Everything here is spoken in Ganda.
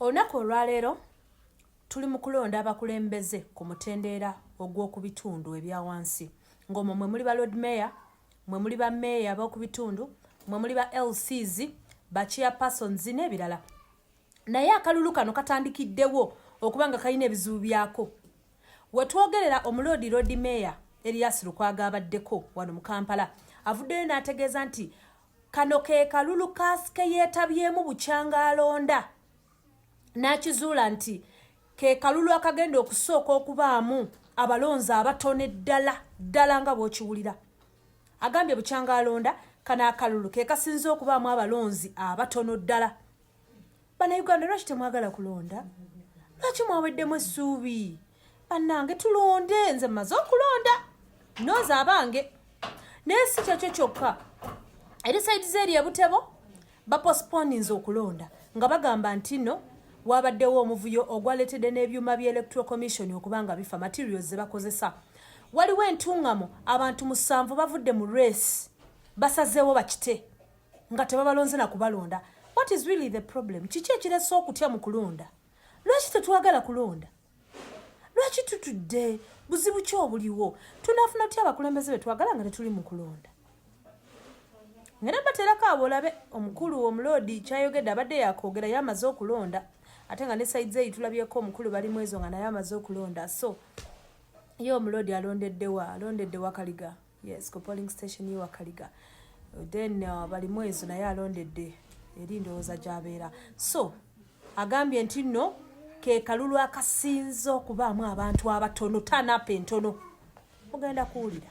olunaku olwaleero tuli mu kulonda abakulembeze ku mutendeera ogw'oku bitundu ebya wansi ng'omwo mwe muli ba lord mayor mwe muli ba meeya ab'oku bitundu mwe muli ba lcs ba chairpersons n'ebirala naye akalulu kano katandikiddewo okuba nga kalina ebizibu byako wetwogerera omuloodi lord mayor erias lukwaga abaddeko wano mu kampala avuddeyo n'ategeeza nti Kano ke kalulu kaasi ke yeetabyemu bukyanga alonda n'akizuula nti ke kalulu akagenda okusooka okubaamu abalonzi abatone ddala ddala nga bw'okiwulira agambye bukyanga alonda kano akalulu ke kasinze okubaamu abalonzi abatono ddala banauganda lwaki temwagala kulonda lwaki mwaweddemu essuubi bannange tulonde nze mmaze okulonda noza abange naye si kyekyo kyokka eri saidi zeeri ebutebo baposponinze okulonda nga bagamba nti no wabaddewo omuvuyo ogwaletedde n'ebyuma bya electoral commission okuba nga bifa materials ze bakozesa waliwo entungamo abantu musanvu bavudde mu race basazeewo bakite nga tebabalonze na kubalonda what is really the problem kiki ekiresa okutya mu kulonda lwaki tetwagala kulonda lwaki tutudde buzibu ki obuliwo tunafuna tutya abakulembeze betwagala nga tetuli mu kulonda ngera baterako abo olabe omukulu omuloodi kyayogedde abadde yakwogera ye amaze okulonda ate nga ne saizi eyi tulabyeko omukulu bali mwezo nga naye amaze okulonda so ye omuloodi alondeddewa alondedde wakaliga yes ku polling station ye wakaliga then uh, bali mwezo naye alondedde eri ndowooza gyabeera so agambye nti nno ke kalulu akasinze okubaamu abantu abatono tanapa entono mugenda kuwulira